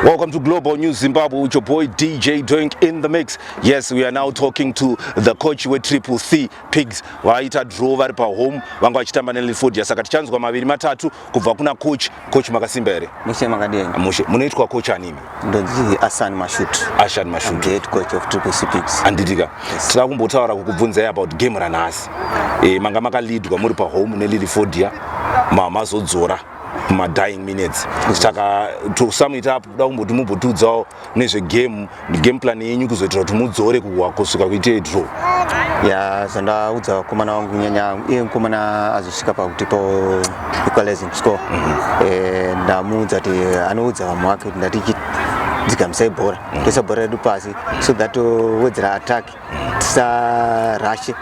Welcome to Global News Zimbabwe with your boy DJ Doink in the mix. Yes, we are now talking to the coach we Triple C Pigs. Vaita draw vari pa home vanga vachitamba ne Linford yasaka tichanzwa maviri matatu kubva kuna coach. Coach makasimba here? Mushe makadini. Ah, mushe. Munoitwa coach animi? Ndonzi Asan Mashut. Ashan Mashut. I'm the head coach of Triple C Pigs. Anditika. Yes. Tira kumbotaura kukubvunza about game ranhasi. Eh, manga makaleadwa muri pa home ne Linford ya. Mama zodzora. mumadying minutes saka to sum it up kuda kumboti mumbotiudzawo nezvegame game plan yenyu kuzoitira kuti mudzore kuhwa kusvika kuite draw ya zvandaudza vakomana vangu nyanya iye mukomana azosvika pakuti po equalizing score mhm. eh, ndamuudza kuti anoudza vamwe vake kuti ndatichiti dzigamisai bhora toisa bhora redu pasi so that wedzera attack tisarashe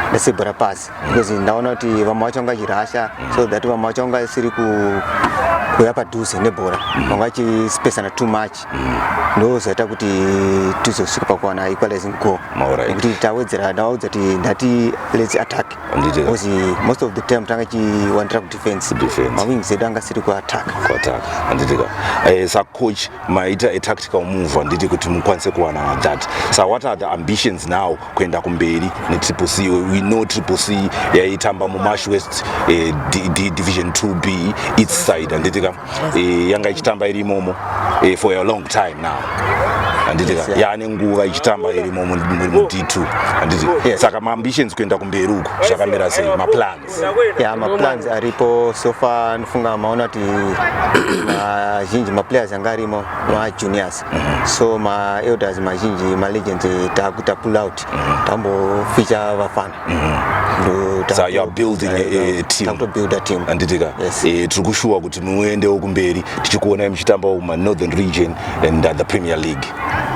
ndasebhura pasi because ndaona kuti vamwe vacho vanga chirasha so that vamwe vacho vanga siri kuuya padhuze nebhora vanga chipesana too much ndozoita kuti tizosvika pakuwana equalizing goal nekuti tawedzera ndawaudza kuti ndati lets attack because most of the time tanga chiwandira kudefense mawings edu anga siri kuattack eh, sacoach maita a tactical move handiti kuti mukwanise kuwana that so what are the ambitions now kuenda kumberi netriple c we know triple c yaitamba mumash west eh, division 2b its side handiti ka eh, yanga ichitamba iri imomo eh, for a long time now handiti ka yaane nguva ichitamba irimo mud2 handiti saka maambitions kuenda kumberi uku zvakamira sei maplan ya maplans aripo sofa anofunga maona kuti mazhinji maplayers anga arimo majuniors mhm. so maelders mazhinji malegends takuita pull out mhm. tamboficha vafana anditika tiri kushuwa kuti muendewo kumberi tichikuonai muchitambawo mumanothern region and uh, the premier league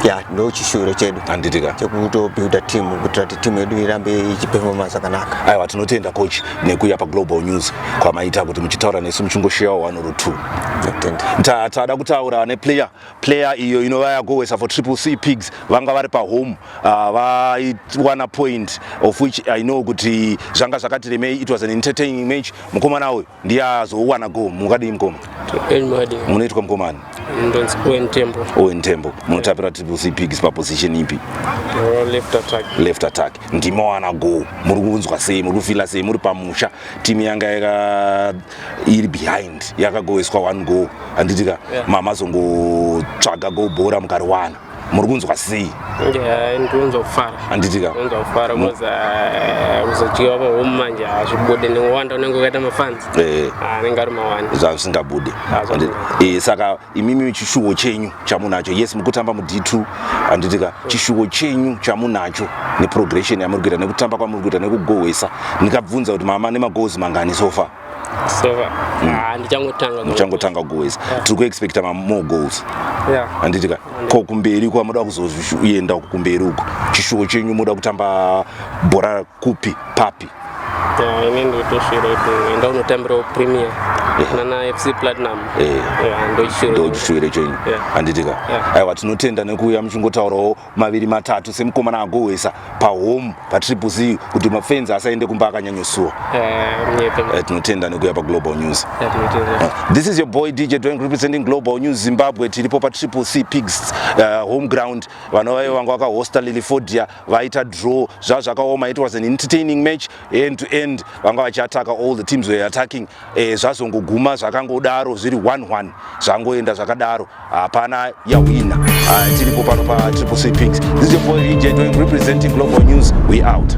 yeah. ndochishuwiro chedu handitika chekutobuilda team kuitira kuti team yedu irambe ichipefoma zvakanaka aiwa tinotenda coach nekuya paglobal news kwamaita kuti muchitaura nesu muchingosheyawo one or two tada kutaura neplayer player iyo inova yagowesa for triple c pigs vanga vari pahome ah, vaiwana uh, point of which i know kuti zvanga zvakatiremei it was an entertaining match mukomana uyu ndiye azowana go mukadii mukoma munoitwa mukomani ndonzi owen tembo owen tembo munotapira triple c pigs paposition ipi left attack left attack ndimowana go muri kunzwa sei muri kufila sei muri pamusha timu yanga yaka iri behind yakagoeswa one go handiti ka yeah. mama zongotsvaga go bhora mukariwana muri kunzwa sei ndirikunzwa kufara handitika kunzwa kufara kuzodyiwa pahome manje hazvibude nekuwanda unenge ukaita mafans eh. ah, anenge ari mawani zvavisingabude eh, saka imimi chishuwo chenyu chamunacho yes mukutamba mud2 handitika hmm. chishuwo chenyu chamunacho neprogression yamuri kuita nekutamba kwamuri kuita nekugohwesa ndikabvunza kuti mama nemagoals mangani sofa so mm. ah, ndichangotanga ndichangotanga goes yeah. tiri kuexpecta mamore goals yeah. anditi ka ko kumberi kwa moda kuzoenda kumberi uko chishuwo chenyu moda kutamba bhora kupi papi ini ndotosvira kuti enda unotambirawo premier nana fc platinum ndochisvira chenyu anditi ka aiwa tinotenda nekuuya muchingotaurawo maviri matatu semukomana agohwesa pahome patriple z kuti mafenzi asaende kumba akanyanyosuwa eh, eh, tinotenda nekuuya paglobal news eh, this is your boy dj doing representing global news zimbabwe tiripo patriple c pigs uh, home ground vanova vanga vakahosta lilifodia vaita draw zvazvakaoma it was an entertaining match end to end vanga vachiataka all the teams were attacking eh, zvazongoguma zvakangodaro zviri 11 zvangoenda zvakadaro hapana yawina ah, tiripo pano patriple c pinks this is your boy region representing global news we out